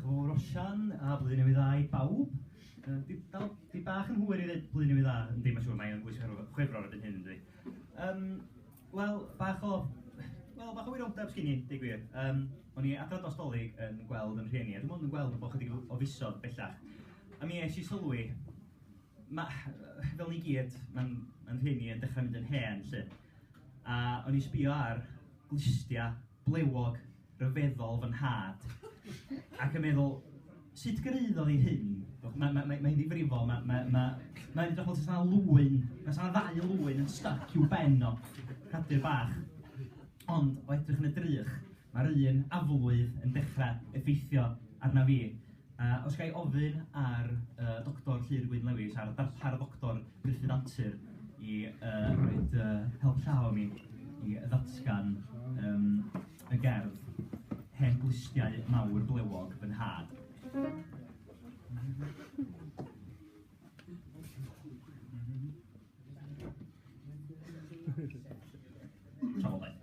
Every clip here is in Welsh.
Roshan, a Blwyddyn Newydd Dda i bawb. Uh, di, dal, di bach yn hwyr i ddweud Blwyddyn Newydd Dda, yn ddim yn siŵr, mae'n bwysig ar chwefror ydyn hyn, ynddi. Um, Wel, bach o... Wel, bach o wiroldeb sgyn i, dig gwir. Um, o'n i adrodd dostolig yn gweld yn rhieni, a dwi'n mwyn yn gweld yn bod chydig o fusodd bellach. A mi eisiau sylwi, ma, fel ni gyd, mae'n ma rhieni yn dechrau mynd yn hen, lle. A o'n i'n sbïo ar glustiau blewog ryfeddol fy nhad, ac yn meddwl, sut gyraeddodd hi hyn? Mae mae mae hi'n ddifrifol, mae mae mae mae'n edrych fel os oes 'na lwyn, os oes 'na ddau lwyn yn styc i'w ben o, cadir bach. Ond o edrych yn y drych, mae'r un aflwydd yn dechrau effeithio arna fi. A os ga i ofyn ar yy Doctor Llŷr Gwyn Lewis a'r darpar Doctor Gruffydd Antur i yy roid yy help llaw i mi i ddatgan yym y gerdd 'Hen Glustiau Mawr Blewog fy Nhad'. Trafodaeth.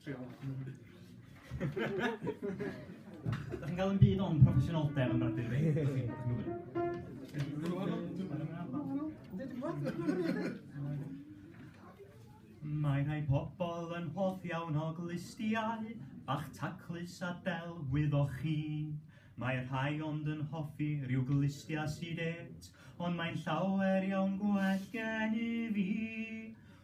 Ydych chi'n cael yn byd o'n proffesiynoldeb yn rhaid i fi? Mae rhai pobl yn hoff iawn o glustiau, bach taclus a delwydd o chi. Mae rhai ond yn hoffi rhyw glustiau sydd et, ond mae'n llawer iawn gwell gen i fi.